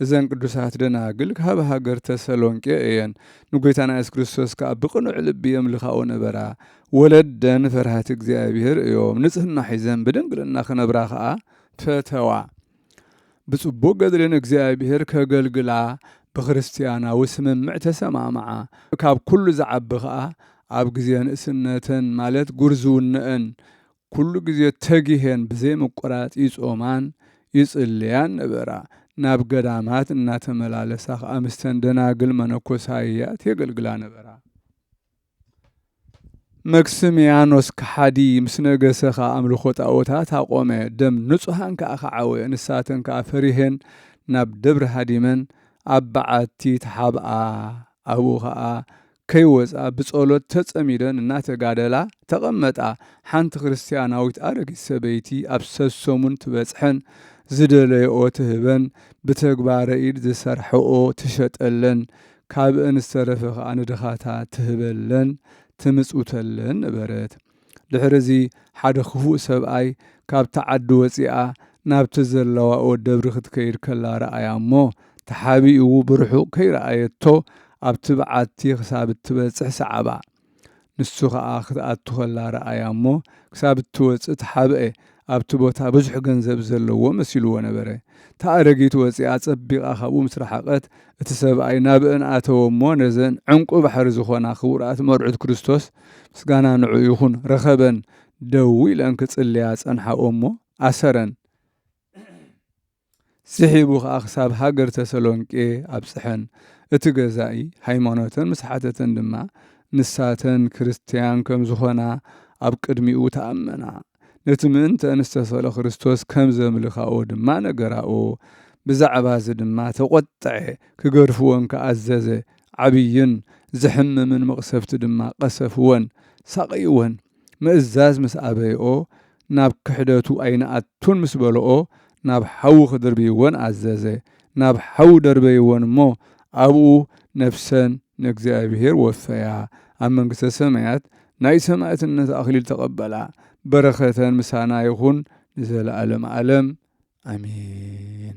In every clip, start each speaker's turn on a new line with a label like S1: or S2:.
S1: እዘን ቅዱሳት ደናግል ካብ ሃገር ተሰሎንቄ እየን። ንጐይታና የሱስ ክርስቶስ ከኣ ብቕኑዕ ልቢ የምልካኦ ነበራ። ወለደን ፈርሃቲ እግዚኣብሔር እዮም። ንጽህና ሒዘን ብድንግልና ክነብራ ከኣ ፈተዋ። ብጽቡቕ ገድሊ ንእግዚኣብሔር ከገልግላ ብክርስትያናዊ ስምምዕ ተሰማምዓ። ካብ ኩሉ ዝዓቢ ከኣ ኣብ ግዜ ንእስነተን ማለት ጉርዝውነአን ኩሉ ግዜ ተጊሄን ብዘይምቁራጽ ይጾማን ይጽልያን ነበራ። ናብ ገዳማት እናተመላለሳ ከኣ ምስተን ደናግል መነኮሳያት የገልግላ ነበራ። መክስምያኖስ ከሓዲ ምስ ነገሰ ከኣ ኣምልኾ ጣኦታት ኣቆመ፣ ደም ንጹሃን ከኣ ከዓወ። ንሳተን ከኣ ፈሪሔን ናብ ደብሪ ሃዲመን ኣብ በዓቲ ተሓብኣ። ኣብኡ ከኣ ከይወጻ ብጸሎት ተጸሚደን እናተጋደላ ተቐመጣ። ሓንቲ ክርስትያናዊት ኣረጊት ሰበይቲ ኣብ ሰሰሙን ትበጽሐን፣ ዝደለየኦ ትህበን፣ ብተግባረ ኢድ ዝሰርሐኦ ትሸጠለን፣ ካብእን ዝተረፈ ከኣ ንድኻታት ትህበለን፣ ትምጽውተለን ነበረት። ድሕርዚ ሓደ ክፉእ ሰብኣይ ካብታ ዓዲ ወጺኣ ናብቲ ዘለዋኦ ደብሪ ክትከይድ ከላ ረኣያ እሞ፣ ተሓቢእዉ ብርሑቕ ከይረኣየቶ ኣብቲ በዓቲ ክሳብ እትበጽሕ ሰዓባ። ንሱ ከኣ ክትኣቱ ከላ ረኣያ እሞ፣ ክሳብ እትወጽእ ተሓብኤ። ኣብቲ ቦታ ብዙሕ ገንዘብ ዘለዎ መሲሉዎ ነበረ። እታ ኣረጊት ወጺኣ ጸቢቓ ካብኡ ምስ ረሓቐት፣ እቲ ሰብኣይ ናብእን ኣተወ እሞ ነዘን ዕንቊ ባሕሪ ዝኾና ክቡራት መርዑት ክርስቶስ፣ ምስጋና ንዕኡ ይኹን፣ ረኸበን። ደው ኢለን ክጽልያ ጸንሓኦ እሞ ኣሰረን። ስሒቡ ኸኣ ክሳብ ሃገር ተሰሎንቄ ኣብጽሐን። እቲ ገዛኢ ሃይማኖተን ምስ ሓተተን ድማ፣ ንሳተን ክርስትያን ከም ዝዀና ኣብ ቅድሚኡ ተኣመና። ነቲ ምእንተኣን ዝተሰቕለ ክርስቶስ ከም ዘምልካኦ ድማ ነገራኦ። ብዛዕባዚ ድማ ተቈጥዐ፣ ክገርፍወን ከኣ ኣዘዘ። ዓብይን ዜሕምምን መቕሰፍቲ ድማ ቐሰፍወን፣ ሳቐይወን። ምእዛዝ ምስ ኣበይኦ ናብ ክሕደቱ ኣይንኣቱን ምስ በልኦ ናብ ሓዊ ክድርብይወን ኣዘዘ። ናብ ሓዊ ደርበይወን እሞ ኣብኡ ነፍሰን ንእግዚኣብሔር ወፈያ፣ ኣብ መንግሥተ ሰማያት ናይ ሰማዕትነት ኣኽሊል ተቐበላ። በረከተን ምሳና ይኹን ንዘለዓለም ዓለም ኣሜን።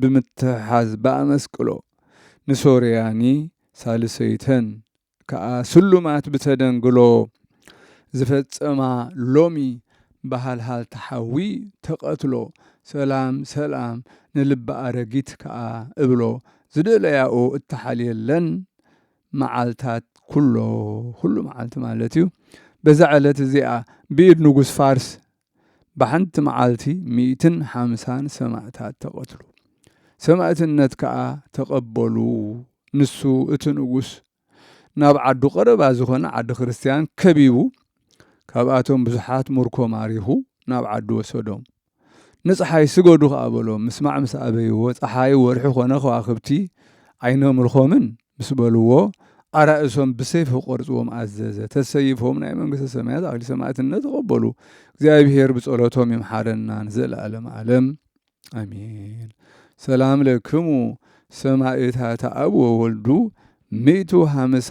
S1: ብምትሕሓዝ ብኣመስቅሎ ንሶርያኒ ሳልሰይተን ከኣ ስሉማት ብተደንግሎ ዝፈጸማ ሎሚ ብሃልሃልታ ሓዊ ተቐትሎ ሰላም ሰላም ንልቢ ኣረጊት ከኣ እብሎ ዝደለያኦ እተሓልየለን መዓልታት ኩሎ ኩሉ መዓልቲ ማለትዩ በዛ ዕለት እዚኣ ብኢድ ንጉስ ፋርስ ብሓንቲ መዓልቲ ሚእትን ሓምሳን ሰማእታት ተቐትሉ። ሰማእትነት ከኣ ተቐበሉ። ንሱ እቲ ንጉስ ናብ ዓዱ ቀረባ ዝኾነ ዓዲ ክርስትያን ከቢቡ ካብኣቶም ብዙሓት ሙርኮ ማሪኹ ናብ ዓዱ ወሰዶም። ንጸሓይ ስገዱ ከኣ በሎም። ምስማዕ ምስ ኣበይዎ ጸሓይ ወርሒ ኮነ ከዋኽብቲ ኣይነምልኾምን። ምስ በልዎ፣ ኣራእሶም ብሰይፊ ክቖርጽዎም ኣዘዘ። ተሰይፎም ናይ መንግስተ ሰማያት ኣኽሊል ሰማዕትነት ተቐበሉ። እግዚኣብሔር ብጸሎቶም ይምሓረና ንዘለዓለመ ዓለም ኣሜን። ሰላም ለክሙ ሰማዕታት ኣብ ወወልዱ ሚእቱ ሃምሳ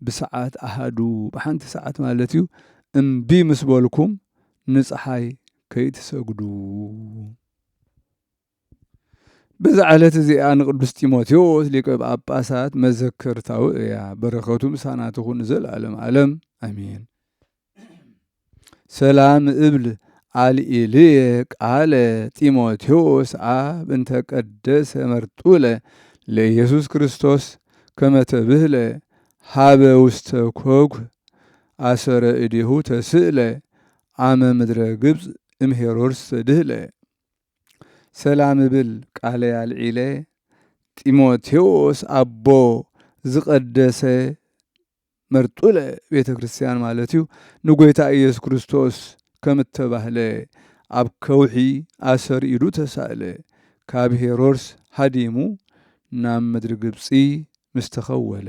S1: ብሰዓት ኣሃዱ ብሓንቲ ሰዓት ማለት እዩ እምቢ ምስ በልኩም ንፀሓይ ከይትሰግዱ። በዛ ዕለት እዚኣ ንቅዱስ ጢሞቴዎስ ሊቀ ጳጳሳት መዘከርታዊ እያ። በረከቱ ምሳና ትኹን ንዘለዓለም ዓለም ኣሜን። ሰላም እብል ኣልኢልየ ቃለ ጢሞቴዎስ ኣብ እንተ ቀደሰ መርጡለ ለኢየሱስ ክርስቶስ ከመ ተብህለ ሀበ ውስተ ኮኩ ኣሰረ እዴሁ ተስእለ ኣመ ምድረ ግብጽ እም ሄሮድስ ተድህለ። ሰላም እብል ቃለይ ኣልዒለ ጢሞቴዎስ ኣቦ ዝቀደሰ መርጡለ ቤተ ክርስቲያን ማለት እዩ ንጎይታ ኢየሱስ ክርስቶስ ከም እተባህለ ኣብ ከውሒ ኣሰር ኢሉ ተሳእለ። ካብ ሄሮድስ ሃዲሙ ናብ ምድሪ ግብጺ ምስ ተኸወለ።